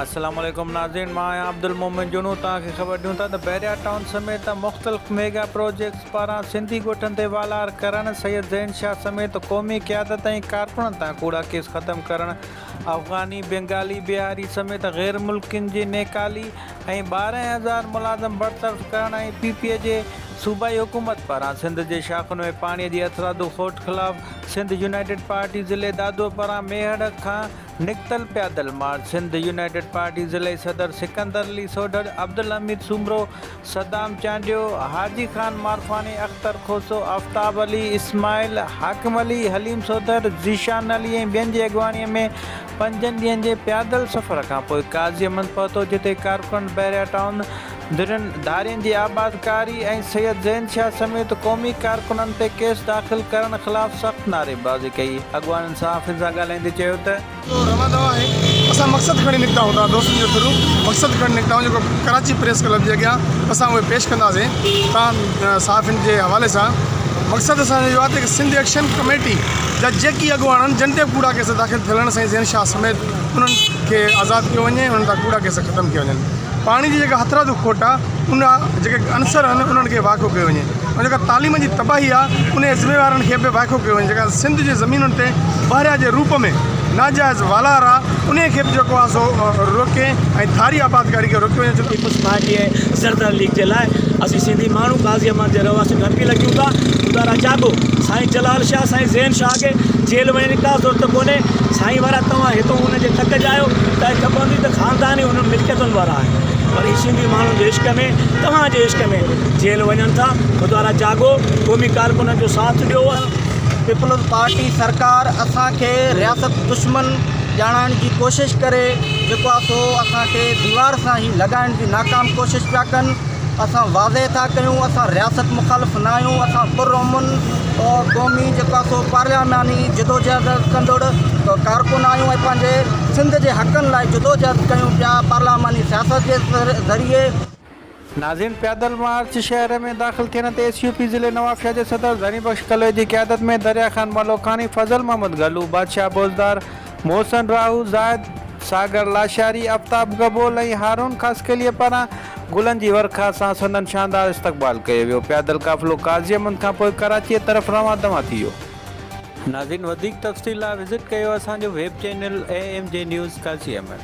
السلام عليڪم ناظرين مان آهيان عبدالمومن جنون توهان کي خبر ڏيون ٿا ته بحريا ٽائون سميت مختلف ميگا پروجيڪٽس پاران سنڌي ڳوٺن تي والار ڪرڻ سيد زين شاهه سميت قومي قيادت ۽ ڪارڪنن تان ڪوڙا ڪيس ختم ڪرڻ افغاني بينگالي بهاري سميت غير ملڪين جي نيڪالي ۽ ٻارهن هزار ملازم برطرف ڪرڻ ۽ پي پي جي صوبائي حڪومت پاران سنڌ جي شاخن ۾ پاڻي جي اٿرادو کوٽ خلاف سنڌ يونائيٽيڊ پارٽي ضلعي دادو پاران ميهڙ کان نڪتل پيادل مارچ سنڌ يونائيٽيڊ پارٽي ضلعي صدر سڪندر علي سوڍڙ، عبدالحميد سومرو، صدام چانڊيو، حاجي خان مارفاڻي، اختر کوسو، آفتاب علي، اسماعيل، حاڪم علي، حليم سوڍر، ذيشان علي ۽ ٻين جي اڳواڻي ۾ پنجن ڏينهن جي پيادل سفر کانپوء قاضي احمد پهتو جتي ڪارڪن بحريا ٽائون، ڌرين ڌارين جي آباد ڪاري ۽ سيد زين شاهه سميت قومي ڪارڪنن تي ڪيس داخل ڪرڻ خلاف سخت نعري بازي ڪئي، اڳواڻن صحافين سان ڳالهائيندي چيو ته. جو روندو آهي اسان مقصد کڻي نڪتا هوندا دوستن جو ٿرو مقصد کڻي نڪتا هون جيڪو ڪراچي پريس ڪلب جي اڳيان اسان اهي پيش ڪنداسين تان صحافين جي حوالي سان مقصد اسان جو اهو آهي ته سنڌ ايڪشن ڪميٽي جا جيڪي اڳواڻن جن تي ڪوڙا ڪيس داخل ٿيل آهن سائين زين شاهه سميت انهن کي آزاد ڪيو وڃي انهن تان ڪوڙا ڪيس ختم ڪيا وڃن. پاڻي جي جيڪا هٿرادو کوٽ آ ان جا جيڪي عنصر آهن انهن کي وائکو ڪيو وڃي ۽ جيڪا تعليم جي تباهي آ انهي جي ذميوارن کي به وائکو ڪيو وڃي جيڪا سنڌ جي زمينن تي بحريا جي روپ ۾ ناجائز والار آ انهي کي به جيڪو آ سو روڪي ۽ ٿاري آبادگاري کي روڪيو وڃي پيپلز پارٽي ۽ زردار ليگ جي لاء اسين سنڌي ماڻهو غازي احمد جي رهواسين کي اپيل ڪيون ٿا خدا را جاڳو سائين جلال شاهه سائين زين شاهه کي جيل وڃڻ جي ڪا ضرورت ڪونهي سائين وارا توهان هتو ان جي تڪ جا آهيو تنهن کي خبر هوندي ته خاندان ئي ملڪيتن وارا آهن پر هي سنڌي ماڻهن جي عشق ۾ توهان جي عشق ۾ جيل وڃن ٿا خدارا جاڳو قومي ڪارڪنن جو ساٿ ڏيو. پيپلز پارٽي سرڪار اسان کي رياست دشمن ڄاڻائڻ جي ڪوشش ڪري جيڪو آ سو اسان کي ديوار سان هي لڳائڻ جي ناڪام ڪوشش پيا ڪن اسان واضح ٿا ڪيون اسان رياست مخالف نه آهيون اسان پر امن قومي جيڪو آ سو پارلياماني جدوجهد ڪندڙ ڪارڪن آهيون ۽ پنهنجي سنڌ جي حقن لاء جدوجهد ڪيون پيا پارلاماني سياست جي ذريعي. ناظرين پيادل مارچ شهر ۾ داخل ٿيڻ تي ايس يو پي ضلعي نوابشاهه جي صدر ڌڻي بخش ڪلوئي جي قيادت ۾ دريا خان ملوڪاڻي، فضل محمد گهلو، بادشاهه بوزدار، محسن راهو، زاهد ساگر لاشاري، افتاب گبول ۽ هارون خاصخيليء پاران گلن جي ورکا سان سندن شاندار استقبال ڪيو ويو. پيادل قافلو قاضي احمد کان پوء ڪراچيء طرف روان دوان ٿي ويو. ناظرين وڌيڪ تفصيل لاء وزٽ ڪيو اسان جو web channel A M G news Karachi M M.